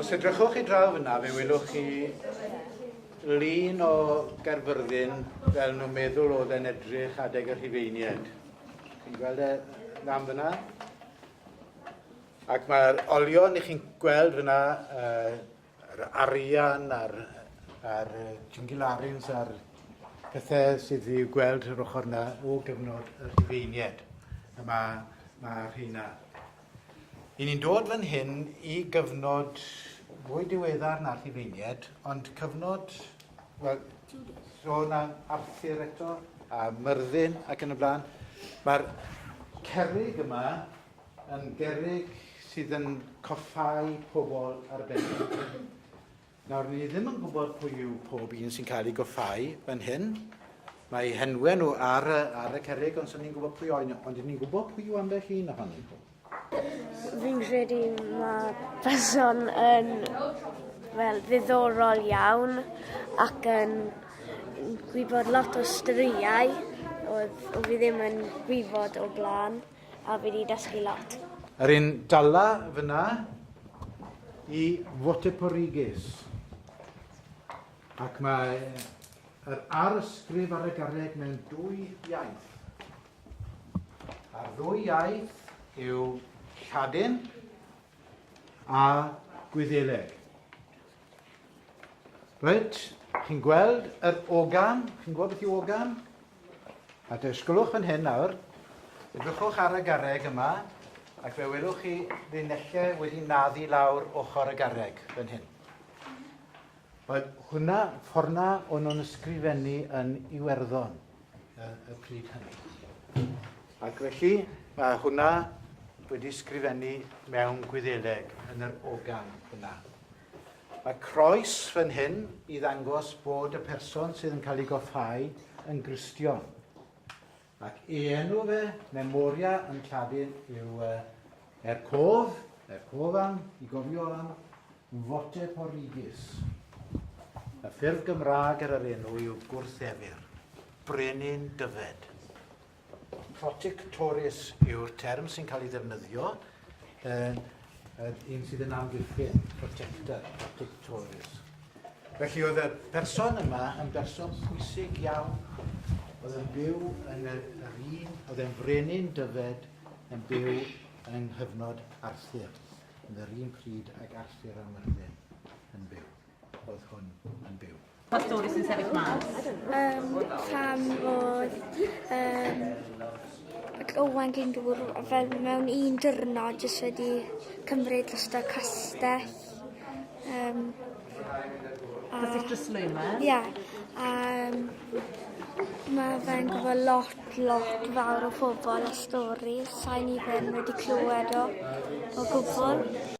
Os edrychwch i draw fyna, fe welwch chi lun o Gerfyrddin fel nhw'n meddwl oedd e'n edrych adeg y Rhufeiniaid. Chi'n gweld e ddam fyna? Ac mae'r olion i chi'n gweld fyna, yr arian a'r a'r jingilarins a'r pethau sydd i'w gweld yr ochr yna o gyfnod y Rhufeinied. A mae, mae rheina. I ni'n dod fan hyn i gyfnod fwy diweddar na'r Rhufeinied, ond cyfnod, wel, sôn am Arthur eto, a Myrddin ac yn y blaen. Mae'r cerrig yma Yn gerrig sydd yn coffáu pobl arbennig. Nawr, ni ddim yn gwybod pwy yw pob un sy'n cael ei goffáu fan hyn. Mae henwe nhw ar, ar y cerrig, ond sy'n ni'n gwybod pwy oen, ond ni'n gwybod pwy yw ambell un ohonyn nhw. Fi'n credu mae person yn fel ddiddorol iawn ac yn gwybod lot o storïau oedd o fi ddim yn gwybod o blaen. A fi 'di dysgu lot. Yr un dala fyna i Wateporeges. Ac mae yr arsgrif ar y garreg mewn dwy iaith. A'r ddwy iaith yw Lladin a Gwyddeleg. Reit, chi'n gweld yr ogan, chi'n gweld beth yw ogan? A dysgwlwch fan hyn nawr, edrychwch ar y garreg yma, ac fe welwch chi linellau wedi naddu lawr ochr y garreg fan hyn. Wel, hwnna, fforna o'n nhw'n ysgrifennu yn Iwerddon y, y pryd hynny. Ac felly, mae hwnna wedi sgrifennu mewn gwyddeleg yn yr ogan yna. Mae croes fan hyn i ddangos bod y person sydd yn cael ei goffhau yn Gristion. Ac ei enw fe, Memoria yn Lladin, yw uh, er cof, er cof am, i gofio am, Vote Porrigis. Y ffurf Gymraeg ar yr enw yw gwrthefyr, brenin dyfed. Protectoris yw'r term sy'n cael ei ddefnyddio, yn, yn un sydd yn amddiffyn, protector, protectoris. Felly oedd y person yma yn berson pwysig iawn, oedd yn byw yn yr, yr un, oedd yn frenin dyfed yn byw yng nghyfnod Arthur, yn yr un pryd ag Arthur a Myrddin yn byw, oedd hwn yn byw. Pa stori sy'n sefyll mas? Um, pam fod um, Owain Glyndŵr fel mewn un dyrno jyst wedi cymryd drosto castell. Um, a... Castell Drysleumer? Ie. Yeah. Um, Mae fe'n gwybod lot, lot fawr o pobl a stori. Sa'n i ddim wedi clywed o, o gwbl.